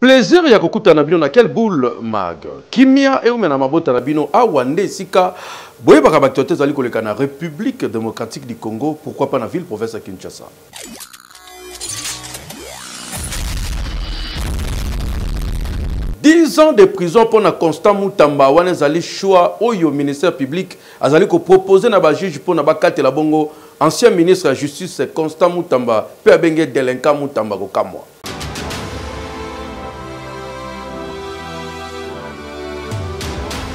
Plaisir ya kokutana na bino na kel boul mag. Kimia eumela na mabota na bino. Awa nde esika boyebaka b'actualites ezali koleka na Republique democratique du Congo, pourquoi pas na ville province ya Kinshasa. Dix ans de prison mpo na Constant Mutamba wana ezali choix oyo ministère public azali kopropose na bajuge mpo na bakatela bongo Ancien ministre ya justice Constant Mutamba mpe abenge delinquant Mutamba kokamwa.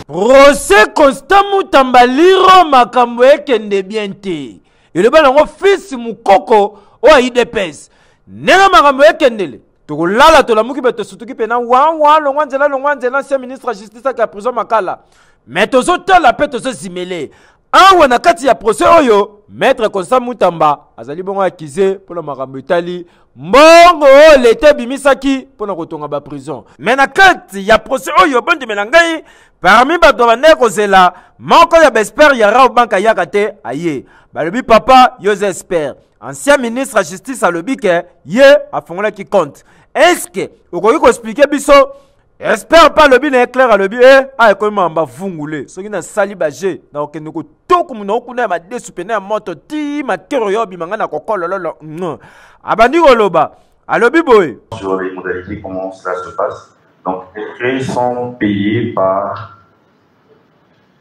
Rose Constant Mutamba liro makambo ekende bien te eloba nango fils mukoko oyo idps ndenge makambo ekendele tokolala tolamuki mpe tosutuki mpe na wawa longwa nzela longwa nzela ancien ministre ya justice ake ya prison makala me tozotala mpe tozozimele awa na kati ya procès oyo maître constant mutamba azali bongo akize mpo na makambo etali mbongo oyo leta ebimisaki mpo na kotonga baprison me na kati ya procès oyo bondimela ngai parmi bato bandai kozela moko ya baespere ya rao bank ayaka te aye balobi papa yoza espere ancien ministre ya justice alobi ke ye afungolaki compte eske okoki koexplike biso espere mpe alobi na ye claire alobi e eh, a ekomi mamba vungule soki nasali baje nakokende kotoku monoko kuna ya madesu pene ya moto ti makero yo obima ngai na kokolololo abandi koloba alobi boye sur les modalités comment cela se passe donc les frais sont payés par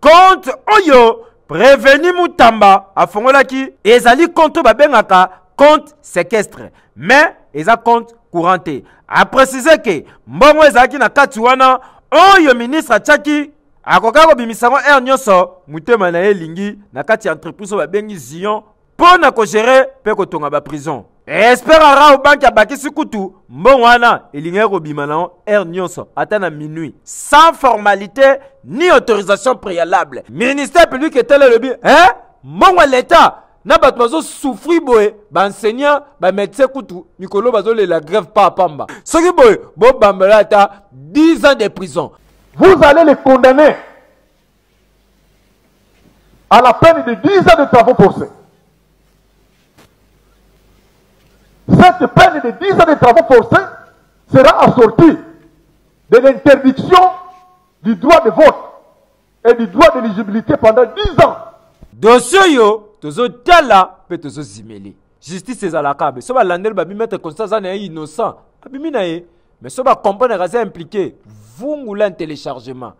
Compte oyo Prevenu Mutamba afongolaki ezali compte oyo babengaka compte sequestre mais eza compte courant te. A préciser que mbongo ezalaki na kati wana oyo ministre atyaki akokaki kobimisa yango heure nyonso motema na ye elingi na kati ya entreprise oyo babengi Zion mpo na kogere mpe kotonga baprison espere arao banki abakisi kutu mbongo wana elingaki kobima na aire nyonso ata na minuit sans formalité ni autorisation préalable ministère public etali elobi eh? mbongo ya leta na bato bazosufri boye baenseignant bamédecin kutu mikolo bazolela grève pa pamba soki boye bobambela ata 10 ans de prison vous allez les condamner à la peine de 10 ans de travaux forcés. Cette peine de 10 ans de travaux forcés sera assortie de l'interdiction du droit de vote et du droit d'éligibilité pendant 10 ans. dosi oyo tozotala mpe tozozimeli justice ezalaka be so balandeli babimetre constant aza na ye innocent abimi na ye mais so bacomprendre aza impliqué vungula un téléchargement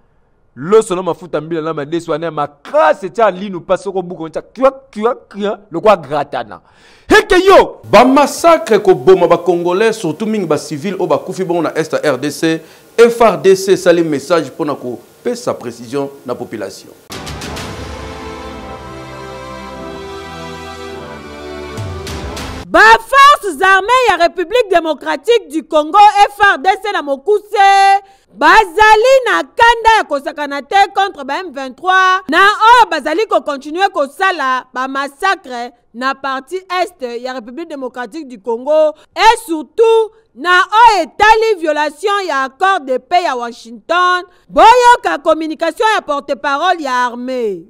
loso na mafuta mbila na madesu wana ya makasi etya linu mpasi oko buka otya kiakiakia lokola gratana heke yo bamasakre koboma bacongolais surtout mingi bacivile oyo bakufi bongo na est ya rdc frdc esali message mpo na kopesa précision na population baforces armées ya république démocratique du congo frdc na mokuse bazali na kanda ya kosakana te contre ba M23 na oyo bazali kokontinue kosala bamasakre na parti est ya République démocratique du Congo et surtout na oyo etali violation ya accord de paix ya Washington boyoka communication ya porte-parole ya armée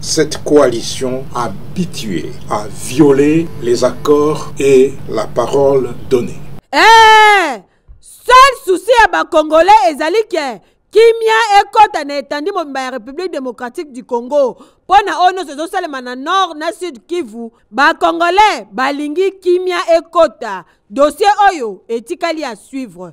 Cette coalition habituée à violer les accords et la parole donnée. Eh! Seul souci ya ba Congolais ezali ke kimia ekota na etandi mobimba ya République démocratique du Congo mpo na oyo nyonso ezosalema na nord na sud kivu bacongolais balingi kimia ekota dossier oyo etikali ya suivre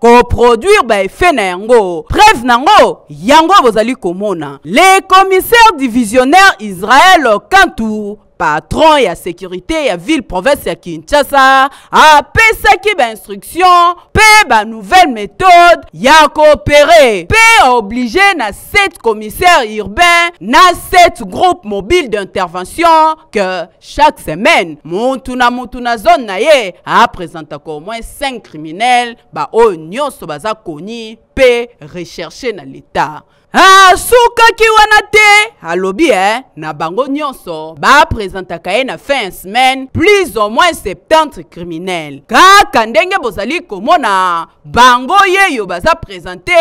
koproduire baefe na yango preuve na yango yango bozali komona le commissaire divisionnaire israel kantu patron ya sécurité ya ville province ya kinshasa apesaki bainstruction mpe banouvelle méthode ya koopere mpe oblige na sept commissaire urbain na sept groupe mobile d'intervention que Chaque semaine, mutu na mutu na zone na ye a presentaka au moins 5 criminels ba oyo nyonso baza koni pe recherche na l'etat. Asukaki ah, wana te, alobi eh, na bango nyonso ba presentaka ye na fin semaine plus au moins 70 criminels. Kaka ndenge bozali komona bango yeyo baza presente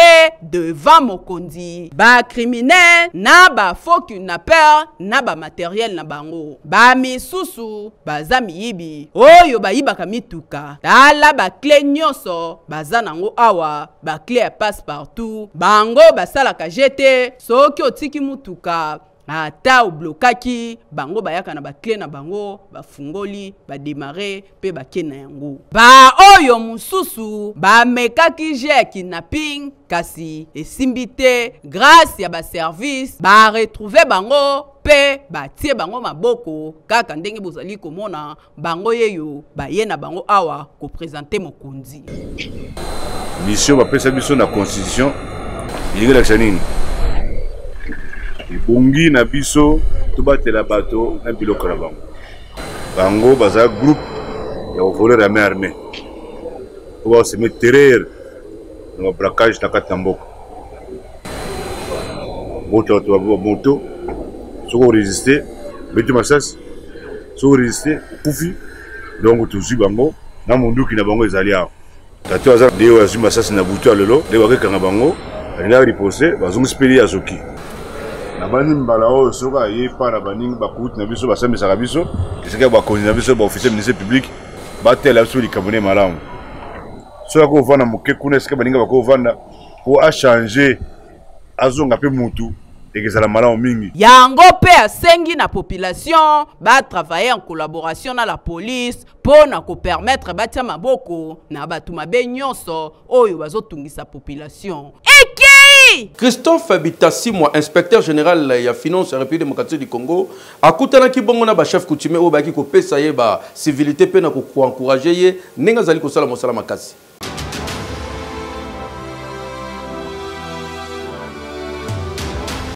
devant mokonzi bacriminel na bafaux kidnapper na bamateriel na bango bamisusu baza miyibi oyo bayibaka mituka tala bakle nyonso baza nango awa bakle ya passe partout bango basalaka jete soki otiki motuka ata oblokaki bango bayaka na bakle na bango bafungoli bademare mpe bake na yango baoyo mosusu bamekaki je ya kidnapping kasi esimbi te grâce ya baservice baretrouve bango mpe batie bango maboko kaka ndenge bozali komona bango yeyo baye na bango awa kopresente mokonzi misio bapesa biso na constitution elingi elakisa nini ebongi na biso tobatela bato na biloko na bango bango baza groupe ya kovoler ya main armée po baoseme terreur na babracage na kati na mboka bota bato ba moto soki oresiste beti masasi soki oresiste okufi donc tozwi bango na monduki na bango ezali awa tata aza de oyo azwi masasi na butu ya lelo nde bakekanga bango alingaki ripose bazongisi mpe ye azoki nabandi mbala oyo soki aye epai na baningi bakuti na biso basambisaka biso esika bakonzi na biso baofficier ministre public batela biso likambo nde malamu soki ako vanda moke kuna esika baninga bako vanda po a changer azonga pe mutu ekezala malamu mingi yango mpe asengi na population batravaille en collaboration na la police mpo na kopermettre batya maboko na bato mabe nyonso oyo bazotungisa population ekei christophe bitasimwa inspecteur général ya finance ya république démocratique du congo Akutanaki bongo na ba chefs coutumiers oyo bayaki kopesa ye ba civilités mpe na koencourager ye ndenge azali kosala mosala makasi.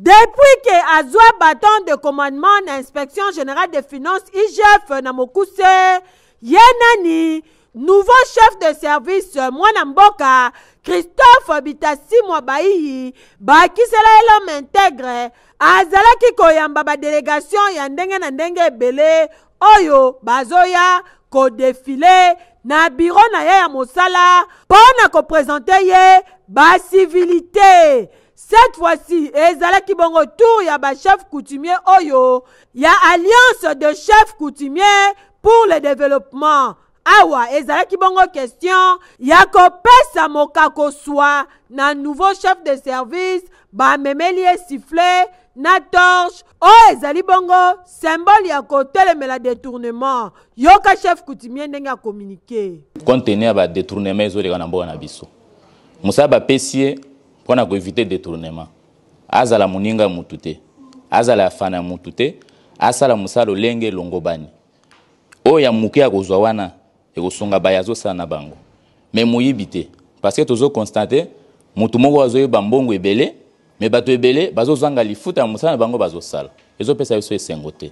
Depuis que azwa bâton de commandement na inspection générale des finances IGF na mokuse, ye nani nouveau chef de service euh, mwana mboka christophe bitasimwa bayiyi bakisela ye l'homme integre azalaki koyamba badelegation ya ndenge na ndenge ebele oyo bazoya kodefile na biro na ye ya mosala mpo na kopresente ye basivilite cette fois-ci ezalaki bongo tour ya bachef coutumier oyo ya alliance de chef coutumier pour le developpement awa ezalaki bongo question ya kopesa mokako swa na nouveau chef de service bamemeli ye sifflet na torche oyo ezali bongo symbole ya kotelemela detournement yoka chef coutumier ndenge ya communiqué compte tenu ya badetournement ezoleka na mboka na biso mosala bapesi ye mpo na koevite detournement Azala moninga ya mutu te. Azala ya fana ya mutu te. Asala mosala lolenge elongobani. Oyo ya muke akozwa wana ekosunga baye azosala na bango. Mais moyibi te. Parce que tozo constate mutu moko azoyeba mbongo ebele mais batu ebele bazozanga lifuta ya mosala na bango bazosala. Ezopesa biso esengo te.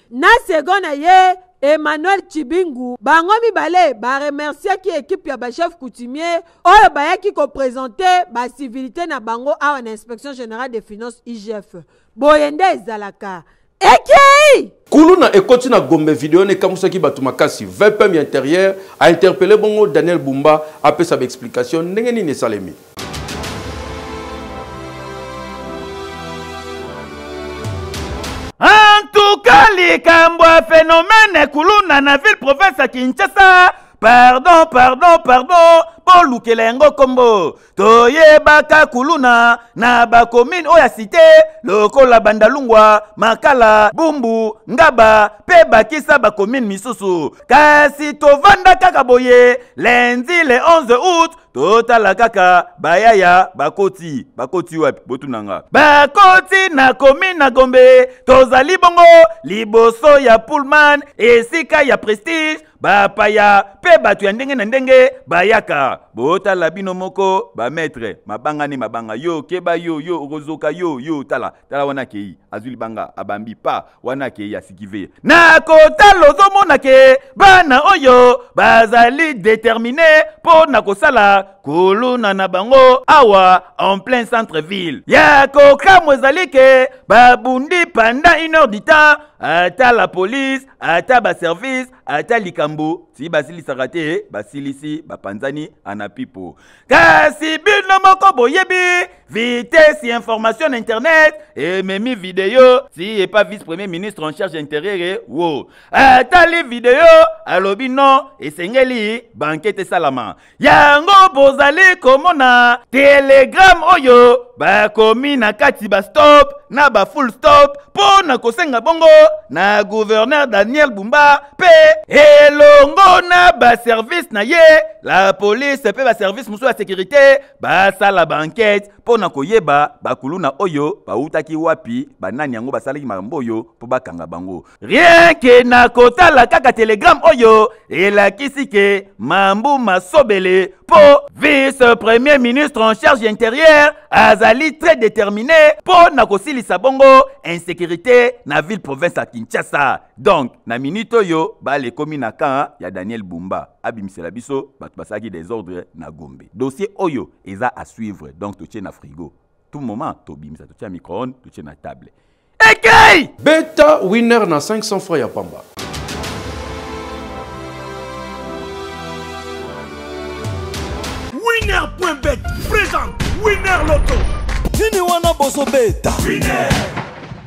Na second na ye Emmanuel Tshibingu, bango mibale ba remerciaki equipe ya ba chefs coutumiers oyo bayaki ko presenter ba civilites na bango awa na Inspection generale des finances, IGF. Boye nde ezalaka. Ekei! Kuluna ekoti na Gombe video ne kamusaki batu makasi. VPM ya interieur a interpeller bongo Daniel Bumba apesa ba explication ndenge nini esalemi. antuka likambo ya fenomene kuluna na ville province ya kinshasa pardon pardon pardon bolukela yango nkombo toyebaka kuluna na bakomine oyo ya site lokola bandalungwa makala bumbu ngaba mpe bakisa bakomine misusu kasi tovanda kaka boye lendi le 11 août totala kaka bayaya bakoti bakoti wapi botuna nga bakoti na komi na gombe tozali bongo liboso ya pullman esika ya prestige bapaya mpe bato ya ndenge na ndenge bayaka botala bino moko bametre mabanga ne mabanga yo keba yo yo okozoka yo yo tala tala wana akei azwi libanga abambi pa wana ke ya sikive na kotala ozomona ke bana oyo bazali determine mpo na kosala kuluna na bango awa en plein centre ville ya kokamwa ezali ke babundi pendant une heure du temps ata la police ata baservice ata likambo ti basilisaka te basilisi bapanzani anapipo kasi bino moko boyebi vitesse ya information na internet ememi video ti epa vice premier ministre en charge ya interieur wo atali video alobi non esengeli bankete esalama yango bozali komona telegrame oyo bakomi na kati bastop na bafull stop mpo na kosenga bongo na gouverneur daniel bumba mpe elongo na baservice na ye La police mpe baservice mosusu ya sekurite basala baankete mpo na koyeba bakuluna oyo bautaki wapi, banani yango basalaki makambo oyo mpo bakanga bango. Rien ke na kotala kaka telegramme oyo elakisi ke Mambu Masobele mpo vice-premier ministre en charge ya interieur azali très determine mpo na kosilisa bongo insécurité na ville province ya Kinshasa. donc na minute oyo bale ekomi na camp ya daniel bumba abimisela biso bato basalaki desordre na gombe dossier oyo eza à suivre donc totie na frigo tout moment tobimisa totie na microone totie na table ekei beta winner na 500 francs ya pamba winner.bet présente winner loto nini wana bozobeta winner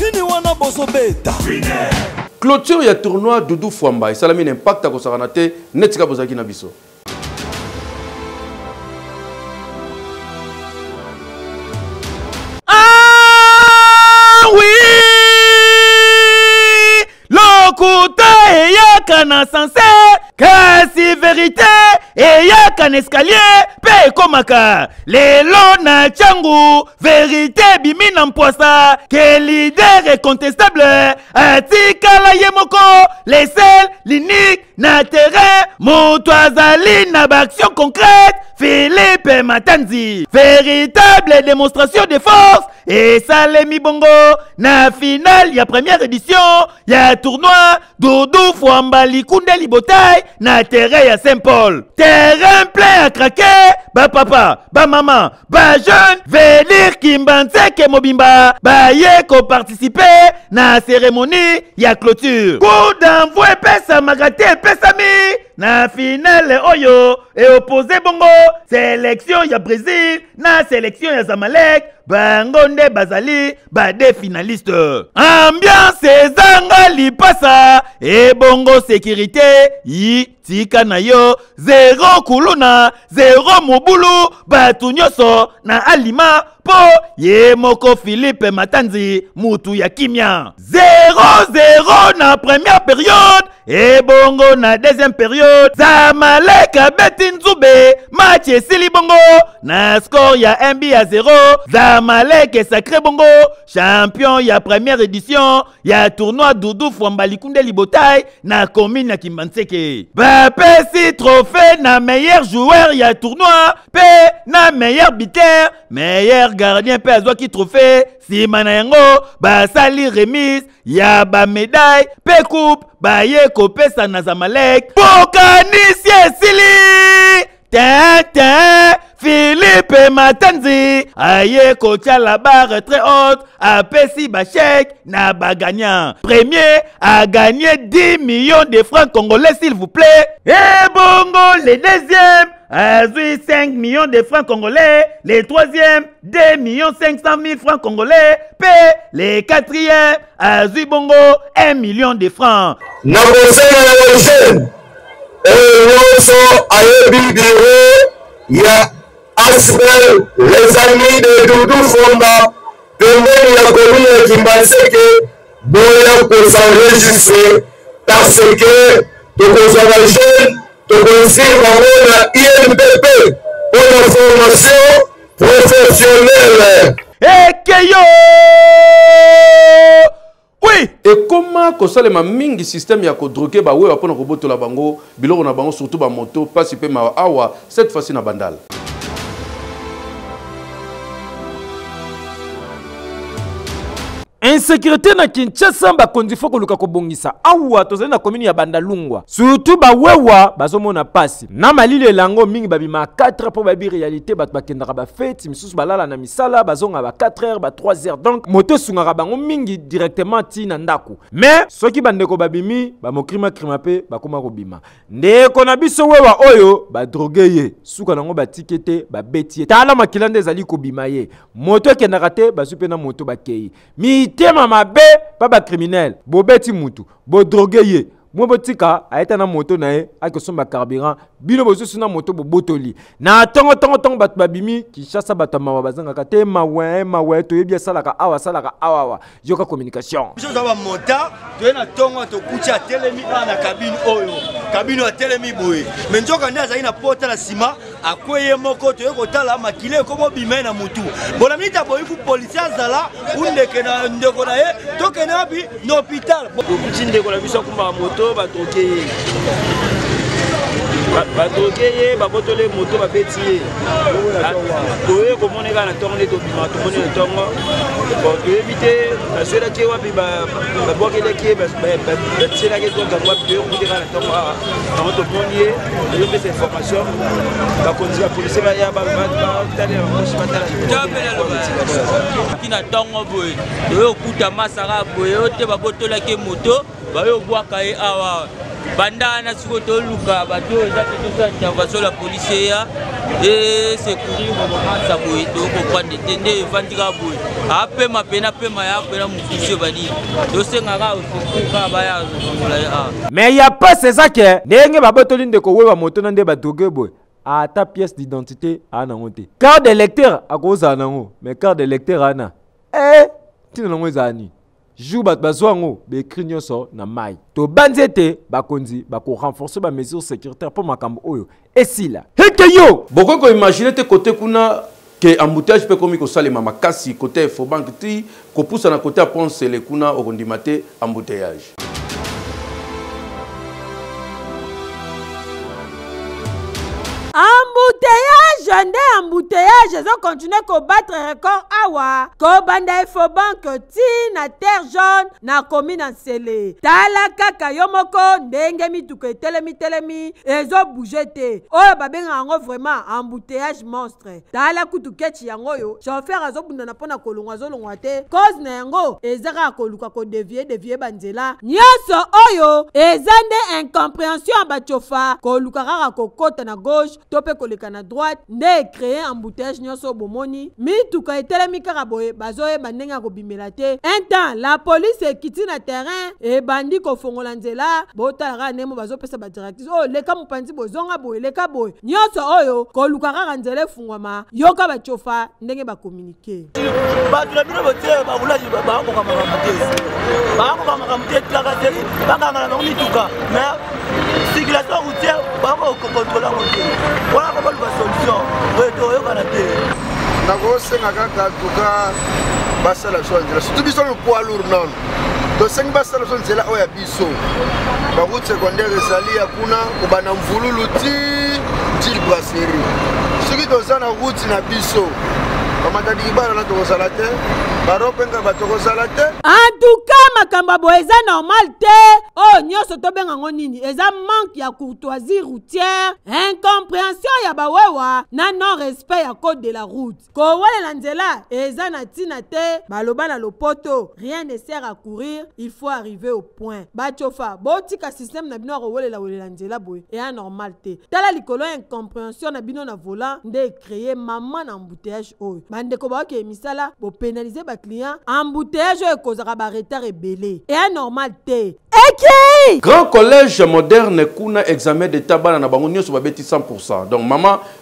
Nini wana bozo beta? Clôture ya tournoi Doudou Fwamba esalami na impact akosakana te netika bozalaki na biso. lokuta eyaka na sanse kasi verite eyaka na escalier mpe ekomaka lelo na ntango verite ebimi na mpwasa ke lider incontestable atikala ye moko lesel linike na terrain moto azali na baaction concrète philippe matanzi véritable démonstration de force esalemi bongo na finale ya première édition ya tournoi dodo fwamba likunde libotai na terrain ya saint paul terrain plein à craquer bapapa bamama bajeune venir kimbanseke mobimba baye koparticipe na cérémonie ya clôture coup d'envoi epesamaka te epesami na finale oyo eopose bongo selektio ya brésil na selection ya zamalek bango nde bazali bade finaliste ambiance ezanga lipasa ebongo sekirite yi tika na yo zero kuluna zero mobulu bato nyonso na alima mpo ye moko filipe matanzi mutu ya kimya 00 na première periode ebongo na deuxième periode zamalek abeti nzube match esili bongo na score ya mb ya 0 zamalek esacre bongo champion ya première édition ya tournoi dudu fwamba likunde libotai na commune ya kimbanseke bapesi trophée na meilleur joueur ya tournoi mpe na meilleur biter meilleur gardien mpe azwaki trophée nsima na yango basali remise ya bamedaille mpe coupe baye kopesa na zamalek bokanisi esili tenten filipe matanzi aye kotya la barre très haute apesi bachèque na bagagnant premier agagne 10 millions de francs congolais s'il vous plaît ebongo le deuxième azwi 5 millions de francs congolais le troisième 2 millions 500 000 francs congolais mpe le quatrième azwi bongo 1 million de francs na bosenga ya bajeune oyo nyonso ayebi biro ya asbel les amis de dudu fonda pembeni ya komine ya kimbanseke boya kozanregistre parce que tokozwa bajeune Tokoinvite bango na INPP mpo na formation professionnelle. Ekeyo! Oui! ekoma kosalema mingi système ya kodroke bawewa mpo na kobotola bango biloko na bango surtout bamoto mpasi mpe mawa awa cette fois-ci na bandala insécurité na kinshasa bakonzi fo koluka kobongisa awa tozali na komini ya bandalungwa surtout bawewa bazomona mpasi na malili elango mingi babima 4 mpo bayebi réalité bato bakendaka bafeti misusu balala na misala bazonga ba 4 heures ba 3 heures donc moto esungaka bango mingi directement ti na ndako mais soki bandeko babimi bamokrimakrima mpe bakoma kobima ndeko na biso wewa oyo badroge ye suka nango batiki te babeti ye tala makila nde ezali kobima ye moto ekendaka te bazwi mpe na moto bakei mitema mabe mpa bakriminele bobeti motu bodroge ye mwe botika ayeta na moto na ye akosomba carburant bino bosusu na moto bobotoli na ntongo ntongo ntongo bato babimi kinshasa bato ya mawa bazangaka te mawe mawe toyebi asalaka awa asalaka awawa yoka communication biso toza bamota toye na ntongo tokuti atelemi awa na kabine oyo kabine oyo atelemi boye me nzoka nde azali na pota na nsima akwe ye moko toye kotala makila ekomobima ye na motu bona miniti aboyi ku polisi azala undeke na ndeko na ye tokende wapi na hopital tokuti ndeko na biso akumbaka moto batoke ye batoke ye babotole moto babeti ye toye komoneka na ntongo nde tomoni ntongo bon toyebi te baswelaki ye wapi babwakelaki ye batielaki ye ntongo yango wapi toyoki te kaka na ntongo awa yango tomoni ye toyopesa information bakonzi ya polise baya batalela bakosi batalakina ntongo boye toye okuta masaka boye oyo te babotolaki ye moto bayo bwaka ye awa banda wana sikoyo toluka bato oyo eza mpe tosala intervention la polisi eya esekurir romansa boye tokoprendre te nde evandi kaka boye apema mpe na pema ya mpena mosusu ebadi tosenga kaka osekur kaka baya zongola ye awa mais ya pasi eza ke ndenge babotoli ndeko weba moto na nde badroge boye ata pièce d'identité aa nango te carte de lecteur akozala nango mais carte de lecteur ana e eh, ntina nango ezala nini jour bato bazwa yango baekri nyonso na mai tobanzi ete bakonzi bakorenforce bamesure sécuritaire mpo makambo oyo esila heke yo bokoki koimagine te kote kuna ke embouteillage mpe ekomi kosalema makasi kote ya efobanke ti kopusana kote ya pont sele kuna okondima te embouteillage embouteillage nde embouteillage ezokontinue kobattre record awa kobanda efobanke ti na terre jaune nakomi na nsele tala kaka yo moko ndenge mituka etelemi telemi ezo bouge te oyo babengaka yango vraiment embouteillage monstre tala kutu kechi yango oyo chauffeur azobundana mpo na kolongwa azolongwa te cause na yango eza kaka koluka kodevie devie banzela nyonso oyo eza nde incomprehension ya bachofa koluka kaka kokota na gauche to mpe koleka na droite nde ecreye embouteillage nyonso oyo bomoni mituka etelemi kaka boye bazoyeba ndenge ya kobimela te un temps la police ekiti na terrain ebandi kofongola nzela botala kaka ndenge mo bazopesa badirectrice oyo oh, leka mopanzi boye zonga boye leka boye nyonso oyo koluka kaka nzela efungwama yoka bacofa ndenge bakominike te bato na bino botie bakulaki bakoka makambo te bakoka makambo te tulaka seli bakanga na bango mituka me circulation routière bakokokontrole yango te wana kobaluka solution oyo toyokana te nakosenga kaka tuka basala biso na nzela surtout biso lopoilour nono tosengi basala biso nzela oyo ya biso biso ba route secondaire ezali ya kuna kobanda mvululu ti til brasserie soki toza na route na biso bamatadikibana na tokozala te baropenga batokozala te antuka makambo boye eza normal te oyo oh, nyonso tobenga yango nini eza manque ya courtoisie routière incomprehension ya bawewa na non respect ya code de la route Kowelela nzela eza na tina te baloba na lopoto rien ne sert à courir il faut arriver au point ba cofa botika système na bino ya kowelela welela nzela boye ea normal te tala likolo ya incomprehension na bino na volant nde e cree maman na embouteillage oyo ba ndeko baokeye misala bo penaliser ba clients embouteillage oyo ekozaka ba retard ebele ea normal te eki Grand collège moderne kuna examen d'etat bana na bango nionso babeti 100 pourcent donc maman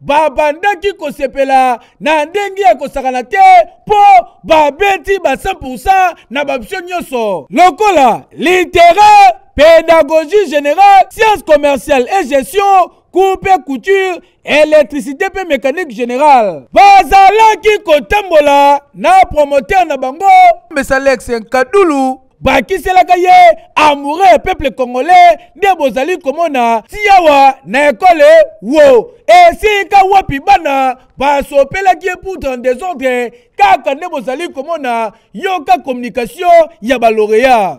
babandaki kosepela na ndenge ya kosakana te mpo babeti ba 100 na babisio nyonso lokola littéraire pédagogie générale sciences commerciales et gestion coupe et couture électricité mpe mécanique générale bazalaki kotambola na promoteur na bango mesalex nkadulu bakiselaka ye amoureux ya peuple congolais nde bozali komona tiawa na ekole wo esika wapi bana basopelaki ye pour dans desordre kaka nde bozali komona yoka communication ya baloreya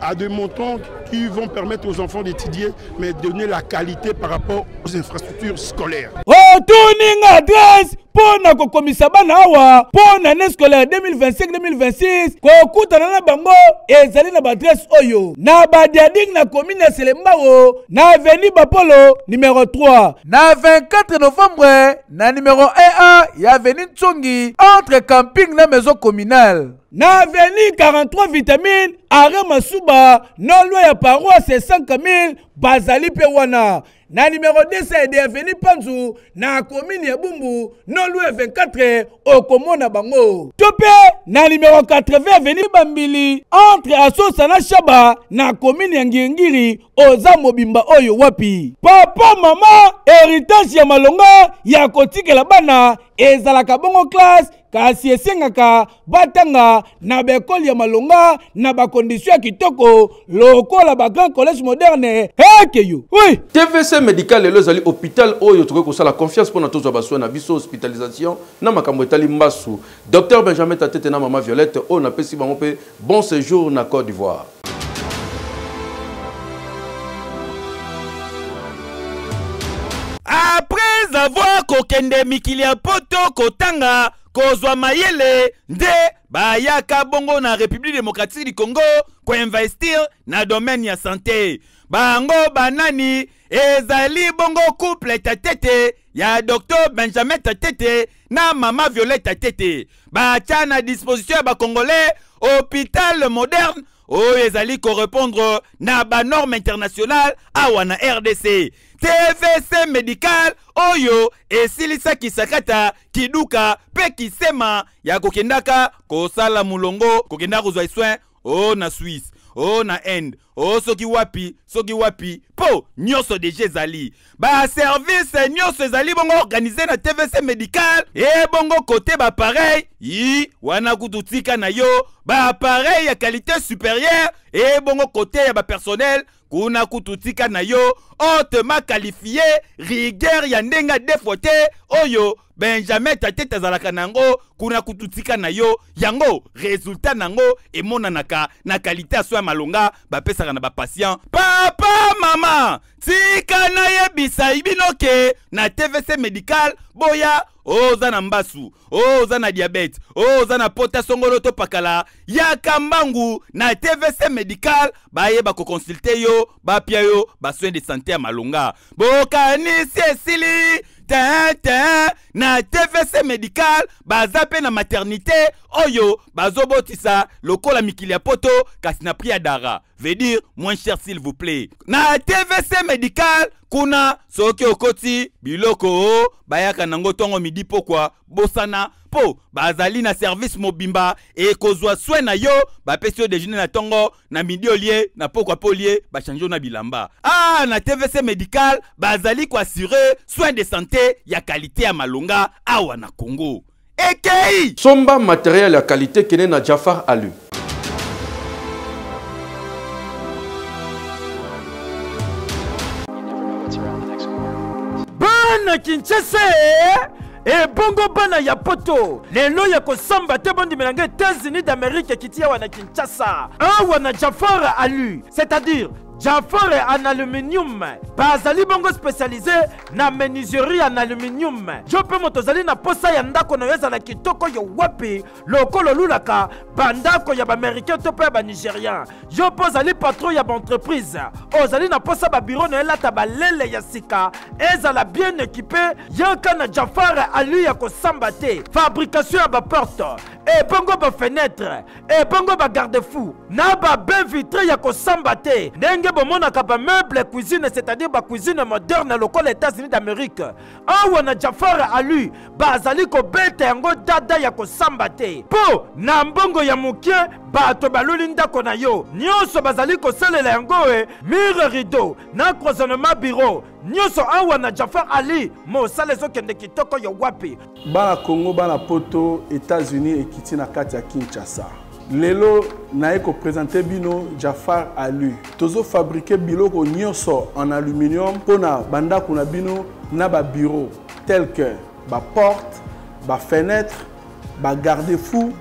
à des montants qui vont permettre aux enfants d'étudier, mais donner la qualité par rapport aux infrastructures scolaires. Returning address mpo na kokomisa bana awa mpo na année scolaire 2025-2026 kokutana na bango ezali na baadresse oyo na badiading na komine ya selembao na aveni bapolo numero 3 na 24 novembre na numero 1 ya aveni ntsongi entre camping na maison communale na avenue 43 vitamine are masuba na loi ya paroisse 5000 bazali mpe wana na numero 200 ya avenue panzu na komini ya bumbu na loi ya 24 okomona bango to mpe na numero 80 avenue bambili entre asosa na shaba na komini ya ngiringiri oza mobimba oyo wapi papa mama heritage ya malonga ya kotikela bana ezalaka bongo classe kasi esengaka batanga na baekole ya malonga na bakondisio ya kitoko lokola bagrand collège moderne ekeyo oui. tvc médical lelo ezali hôpital oyo tokoki kosala confiance mpo na tozwa basoin na biso hospitalisation na makambo etali mbasu dr benjamin tatete na mama violette oyo napesi bango mpe Bon sejour na Cote d'Ivoire. Après avoir kokende mikili ya poto kotanga kozwa mayele nde bayaka bongo na République démocratique du Congo koinvestir na domaine ya santé. Bango banani ezali bongo couple Tatete ya Dr Benjamin Tatete na mama violeta tete batya na disposition ya bacongolais hôpital moderne oyo ezali korepondre na banorme internationale awa na rdc tvc medical oyo esilisaki sakata kiduka mpe kisema ya kokendaka kosala molongo kokendaka kozwa soin o na swisse o na inde o soki wapi soki wapi mpo nyonso deja ezali baservice nyonso ezali bongo organise na tvc medical ebongo kote bapareil i wana kutu tika na yo bapareil ya qualité supérieure ebongo kote ya bapersonnel kuna kutu tika na yo otema kalifie rigueur ya ndenge defo te oyo benjamin tatete azalaka na yango kuna kutu tika na yo yango resultat na yango emonanaka na kalite ya so ya malonga bapesaka na bapatient papa mama tika nayebisa bino ke na tvc medical boya oh, oza na mbasu oh, oza na diabete oh, oza na pota songolo to pakala yaka mbangu na tvc medical baye bakokonsulte yo bapia yo basoin de sante ya malonga bokanisi esili te te na tvc medical baza mpe na maternité oyo bazobotisa lokola mikili ya poto kasi na prix ya dara veut dire moins cher s'il vous plaît na tvc medical kuna soki okoti biloko o bayaka nango ntongo midi pokwa bosana mpo bazali na service mobimba ekozwa swe na yo bapesi yo dejeuner na ntongo na midi olie na pokwa mpe olie bachange yo na bilamba ah na tvc medical bazali koassure soin de santé ya kalite ya malonga awa na congo ekei somba materiel ya kalite kende na jafar alu bana kinshasa ebongo eh, bana ya poto lelo ya kosamba te bondimela ngai états-unis d'amérique ekiti awa na kinshasa awa na jafara alu c'est-à-dire Jafore en aluminium bazali bongo specialise na menuiserie en aluminium. Yo mpe moto ozali na posa ya ndako na yo ezala kitoko yo wapi lokola olulaka bandako ya baamericain to mpe ya banigerian. Yo mpe ozali patron ya baentreprise ozali na posa babiro na yo elata balele ya sika ezala bien ekipe yaka na Jafare alu ya kosamba te fabrication ya baporte ebongo bafenetre ebongo ba garde fou na ba bain vitre ya kosamba te ndenge bomonaka ba meuble cuisine c'est-à-dire ba cuisine moderne lokola états-unis d'amérique awa na jafar alu bazali kobeta yango dada ya kosamba te mpo na mbongo ya moke bato baluli ndako na yo nyonso bazali kosalela yango e mire rideau na croisonnement bureau Nyoso awa na Jafar Ali, mosala ezokende kitoko yo wapi? Bana Congo, bana poto, Etats-Unis ekiti na kati ya Kinshasa. Lelo naye ko présenter bino Jafar Ali. Tozo fabriquer biloko nyoso en aluminium pona bandako na bino na ba bureaux tels que ba portes, ba fenêtres, ba garde-fous,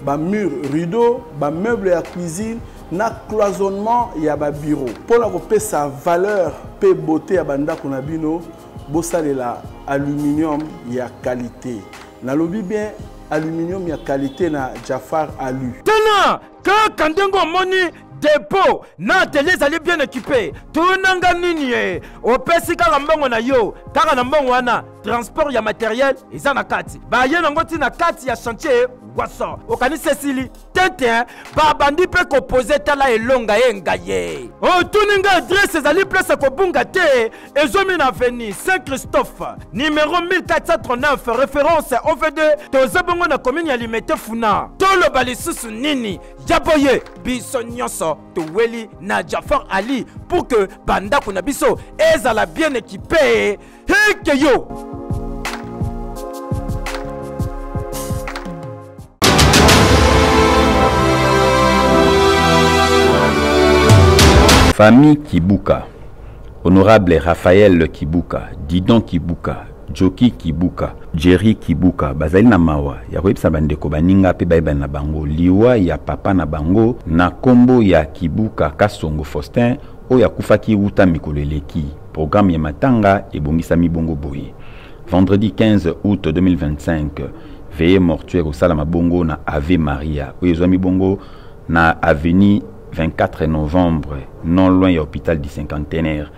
ba mur rideau ba meuble ya cuisine na cloisonnement ya ba bureau mpo na kopesa valeur mpe beauté ya bandako na bino bosalela aluminium ya qualité nalobi bien aluminium ya qualité na jafar alu tala kaka ndenge omoni depo na atelier ezali bien ekipe tunanga nini ye opesi kaka mbongo na yo kaka na mbongo wana transport ya materiel eza na kati baye nango ti na kati ya chantier waso okanisi esili tete babandi mpe kopoze tala elonga ye ngaye otuni nga adrese ezali place kobunga te ezomi na aveni saint christophe numero 1439 référence ovd toza bongo na komini ya limete funa toloba lisusu nini ya boye biso nyonso toweli na jafar ali pour que bandako na biso ezala bien ekipe heke yo Famille Kibuka, honorable Raphaël Kibuka, Didon Kibuka, Joki Kibuka, Jerry Kibuka bazali na mawa ya koyebisa bandeko baninga mpe bayebani na bango liwa ya papa na bango na nkombo ya Kibuka Kasongo Faustin oyo akufaki wuta mikolo eleki. Programme ya matanga ebongisami bongo boye. Vendredi 15 août 2025, veye mortuaire kosalama bongo na Ave Maria oyo ezwami bongo na avenue 24 novembre non loin ya hôpital du cinquantenaire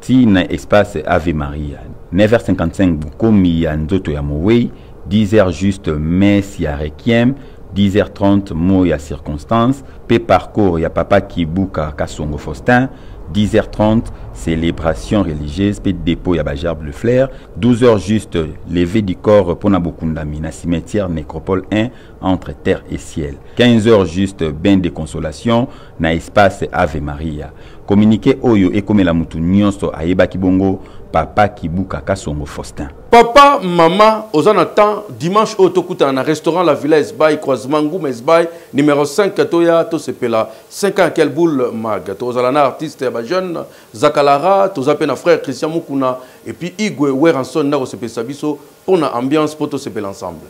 ti na espace Ave Maria 9h55 bokomi ya nzoto ya mowei 10h juste messe ya requiem 10h30 mot ya circonstance pe parcours ya papa Kibuka Kasongo Faustin 10h30 célébration religieuse pe dépôt ya ba gerbes de fleurs 12h juste levée du corps pona bokundami na cimetière nécropole 1 entre terre et ciel 15h juste bain de consolation na espace Ave Maria. Communiqué oyo ekomela mutu nyonso ayebaki bongo papa Kibuka Kasongo Faustin. Papa, mama, oza na temps dimanche oyo tokutana na restaurant La Villa Esbay croisement Nguma Esbay numéro 5 toya tosepela 5 ans quelle boule mag tozala na artiste ya ba jeune Zakalara toza pe na frère Christian Mukuna et puis Igwe Weranson na kosepelisa biso Mpo na ambiance, mpo tosepela ensemble.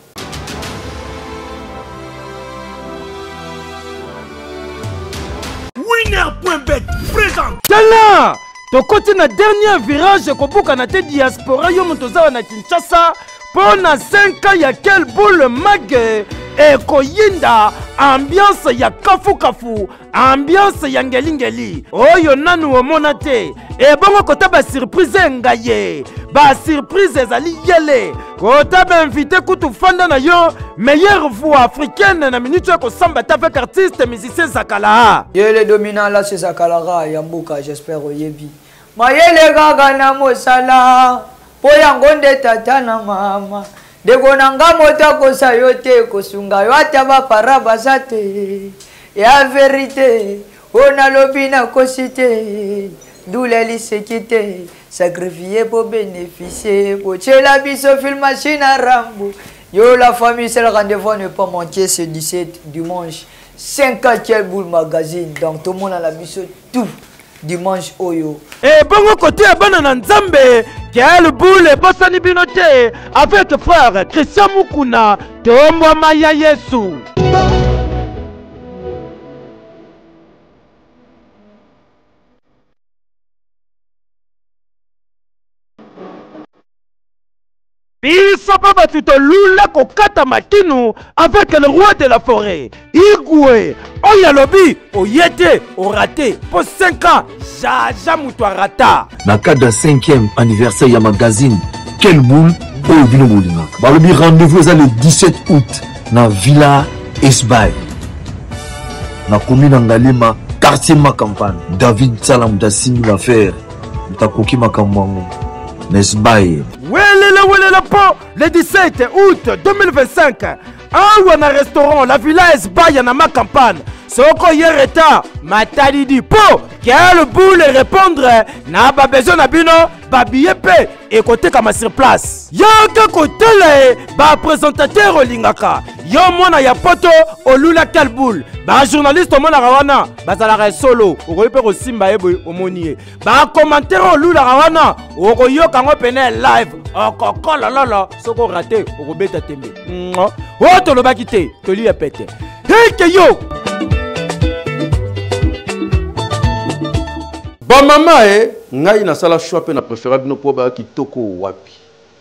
Winner.bet présente. Tala! tokoti na dernier virage ekobukana te diaspora yo moto ozawa na kinshasa mpo na 5 ya kel boule mage ekoyinda ambiance ya kafukafu ambiance ya ngelingeli oyo nanu omona te ebongo kota basurprise enga ye basurprise ezali yele kota bainvite kutu fanda na yo meilleure voix africaine na minute ya kosamba ta avec artiste musicien zakala yele dominant la se zakala ya mboka j'espère oyebi Mayele kaka na mosala mpo yango nde tata na mama ndeko na nga moto akosa yo te kosunga yo ata bapara baza te ya verite oyo nalobi nakosi te ndula liseki te sacrifie po bénéficie botyela biso filmachine a rambo yo la famille c'est le rendez-vous ne pas manquer ce 17 dimanche 5 a quel boule magazine donc tomonana biso tout dimanche oyo ebongo eh, kote ya bana na nzambe quel boule ebosani bino te avec frère christian mukuna tombwama ya yesu Biso pe batu to lula ko kata makinu avec le roi de la foret igwe oyo alobi oye te orate po 5 ans jaja mutu arata. Na cadre ya 5e anniversaire ya magazine quel boule oyo bino bolingaka balobi rendez-vous eza le 17 août na villa esbay na komi na ngalema quartier makampane david sala moto asimbi na fere moto akoki makambo yango n'est-ce pas ye welela welela mpo le 17 août 2025 awa na restaurant la villa esbaya na makampane soko ye reta matalidi mpo quel boule répondre na babesoin na bino babiye mpe ekotekama sur place yaka kotala ye bapresentateur olingaka yo mwana ya poto olula quel boule bajournaliste omonaka wana bazalaka ya solo okoki mpe kosimba ye boye omoni ye bakomantere olulaka wana okoyoka yango mpena ya live okokolololo soki orate okobeta tembe oyo tolobaki te toli ya pete heke yo bamama e eh, ngai nasala shoi mpe na prefera bino mpo baya kitoko wapi